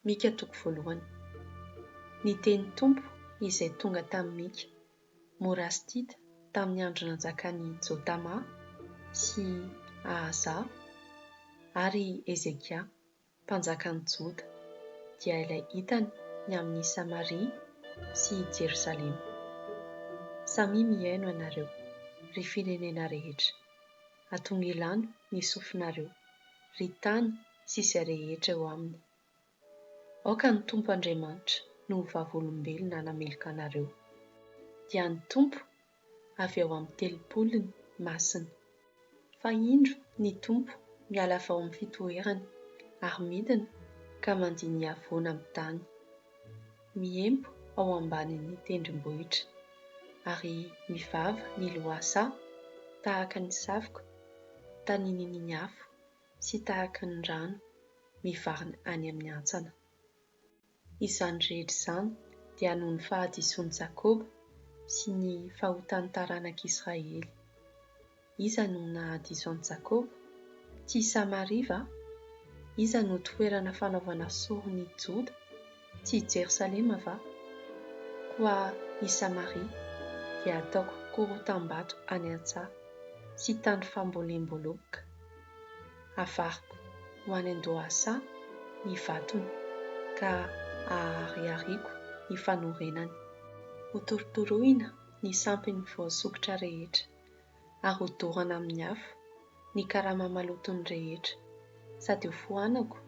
Mika toko voalohany. Ny teny Tompo izay tonga tamin'i Mika, Morastida tamin'ny andro nanjakan'i Jotama sy Ahaza, ary Hezekia, mpanjakan'ny Joda, dia ilay hitany ny amin'i Samaria sy i Jerosalema. Samia mihaino ianareo, ry firenena rehetra! Atongelano ny sofinareo, ry tany sy izay rehetra eo aminy. Aoka ny Tompo Andriamanitra no ho vavolombelona hanameloka anareo. Dia ny Tompo avy ao amin'ny Telopolony Masina. Fa indro ny Tompo miala avy ao amin'ny fitoerany ary midina ka mandinia voan amin'ny tany. Miempo ao ambanin'ny tendrombohitra ary mivava ny lohasaha tahaka ny savoka tanin'iny ny afo sy tahaky ny rano mivarina any amin'ny antsana. Izany rehetra izany dia noho ny fahadisoan'i Jakoba sy ny fahotan'ny taranak'Israely. Iza no nahadiso an'i Jakoba? Tsy i Samaria va? Iza no toerana fanaovana sorona i Joda? Tsy i Jerosalema va? Koa i Samaria dia ataoko korotam-bato any an-tsaha sy tany fambolemboleboka. Havariko ho any an-dohasaha ny vatony ka haharihariko ny fanorenany. Hotorotoroina ny sampiny voasokitra rehetra, ary hodorana amin'ny afo ny karama malotony rehetra, sady hofoanako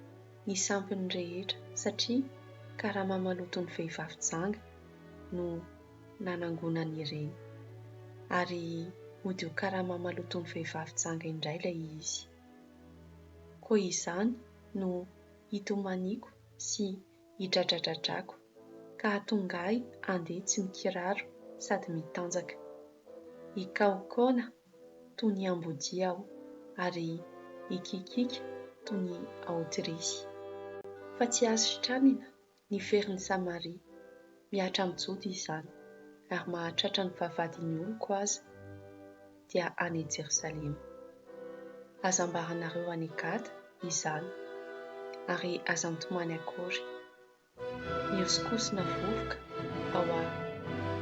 ny sampiny rehetra, satria karama maloton'ny vehivavy janga no nanangonany ireny, ary hody ho karama maloton'ny vehivavy janga indray ilay izy. Koa izany no hitomaniako sy hidradradradrako ka hahatonga ahy handeha tsy mikiraro sady mitanjaka. Hikaokaona toy ny ambodia aho, ary hikiakiaka toy ny aotrisy. Fa tsy azo sitranina ny ferin'i Samaria. Mihatra amin'i Joda izany, ary mahatratra ny vavahadin'ny oloko aza, dia any Jerosalema. Aza ambaranareo any Gada izany, ary aza mitomany akory. Mihosokosona vovoka ao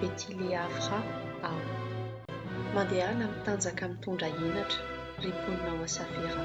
Beti-Leafra aho. Mandehana mitanjaka mitondra henatra, ry mponina ao Safera.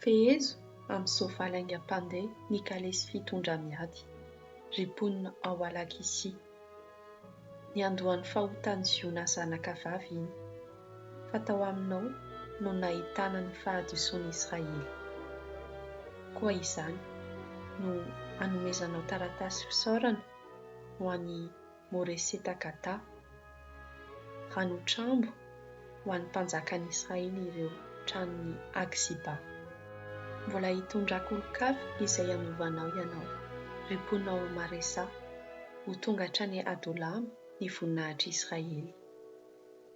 Fehezo amin'ny soavaly haingam-pandeha ny kalesy fitondra miady, ry mponina ao Alakisia. Niandohan'ny fahotan'i Ziona zanaka vavy iny, fa tao aminao no nahitana ny fahadisoan'i Israely. Koa izany no hanomezanao taratasy fisaorana ho an'i Moreseta Gada, ranotrambo ho an'ny mpanjakan'i Israely ireo tranon'i Aksiba. Mbola hitondrako olon-kafa izay hanovanao ianao, ry mponinao ao Maresa, ho tonga hatrany Adolama ny voninahitr'i Israely.